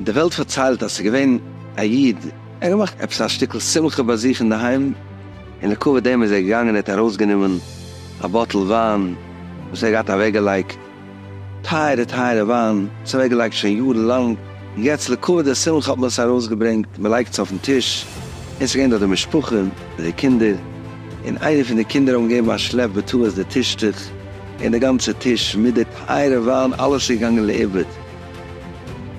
די וועלט פארציילט אז ס'איז געווען א איד, ער האט געמאכט עפעס א שטיקל שמחה ביי זיך אינדערהיים, און לכבוד דעם איז ער געגאנגען און ער האט ארויסגענומען א באטל וויין וואס ער האט געהאט אוועקגעלייגט, טייערע טייערע וויין, צוועק געלייגט שוין יארן לאנג, און יעצט לכבוד די שמחה האט מען עס ארויס געברענגט, מען לייגט עס אויפן טיש, עס איז געווען דארט די משפחה מיט די קינדער, און איינער פון די קינדער האבן געגעבן א שלעפ בטעות די טישטוך, און די גאנצע טיש מיט די טייערע וויין אלעס איז געגאנגען לאיבוד,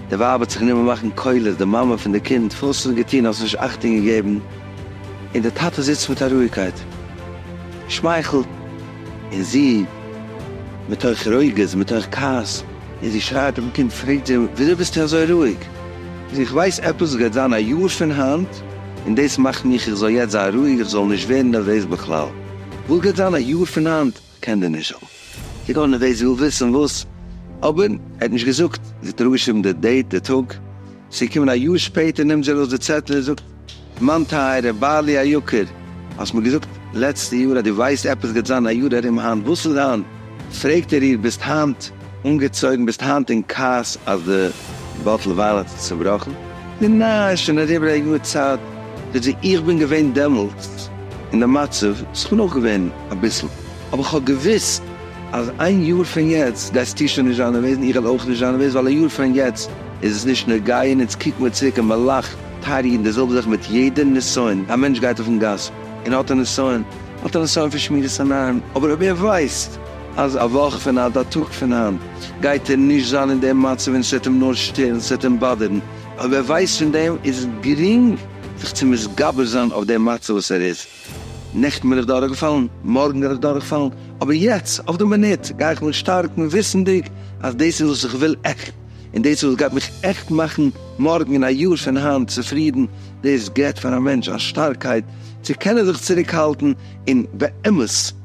די ווייב האט זיך גענומען מאכן קולות, די מאמע פון די קינד, וואס האסטו געטון, האסט נישט אכטונג געגעבן, און די טאטע זיצט מיט א רואיגקייט, שמייכלט. און זי, מתוך רוגז, מתוך כעס, און זי שרייט אויפן קינד, פרעגט זי, וויאזוי ביסטו אזוי רואיג? זי, איך ווייס עפעס וואס גייט זיין א יאר פון היינט, און דאס מאכט מיך איך זאל יעצט זיין רואיג, איך זאל נישט ווערן נערוועז בכלל. וואס גייט זיין א יאר פון היינט? קען דער נשל זי גאר נערוועז, זי וויל וויסן וואס, אבער ער האט נישט געזאגט, זי האט אראפגעשריבן די דעיט, די טאג. זי קומען א יאר שפעטער נעמט זי ארויס די צעטל און זאגט, מיין טייערער בעלי היקר, האסט מיר געזאגט לעצטע יאר אז דו ווייסט עפעס גייט זיין א יאר ארום היינט, וואס איז היינט? פרעגט ער איר, ביסט היינט אנגעצויגן, ביסט היינט אין כעס אז די באטל וויין האט זיך צובראכן? נו ניין, עס איז שוין אריבער א יאר צייט. זאגט זי, איך בין געווען דעמאלטס אין די מצב, איך בין אויך געווען אביסל, אבער איך האב געוואוסט, אז איין יאר פון יעצט גייסטו שוין נישט זיין אנוועזנד, איך וועל אויך נישט זיין אנוועזנד, ווייל א יאר פון יעצט איז עס נישט נוגע, און אונז קוקן מיר צוריק און מען לאכט, טייערע אידן, דאס זעלבע זאך מיט יעדע נסיון, א מענטש גייט אויפן גאס און האט א נסיון, האט א נסיון פון שמירת עיניים, אבער אויב ער ווייסט אז א וואך פון היינט, א טאג פון היינט, גייט ער נישט זיין אין דעם מצב און עס וועט אים נאר שטערן, עס וועט אים באדערן, אויב ער ווייסט פון דעם, איז עס גרינג זיך צו מתגבר זיין אויף דעם מצב וואס ער איז. נעכטן בין איך דורכגעפאלן, מארגן וועל איך דורכפאלן, אבער יעצט אויף די מינוט גיי איך מיך שטארקן וויסנדיג אז דאס איז וואס איך וויל עכט, און דאס איז וואס גייט מיך עכט מאכן מארגן און א יאר פון היינט צופרידן, דאס געבט פאר א מענטש א שטארקייט צו קענען זיך צוריקהאלטן און באמת.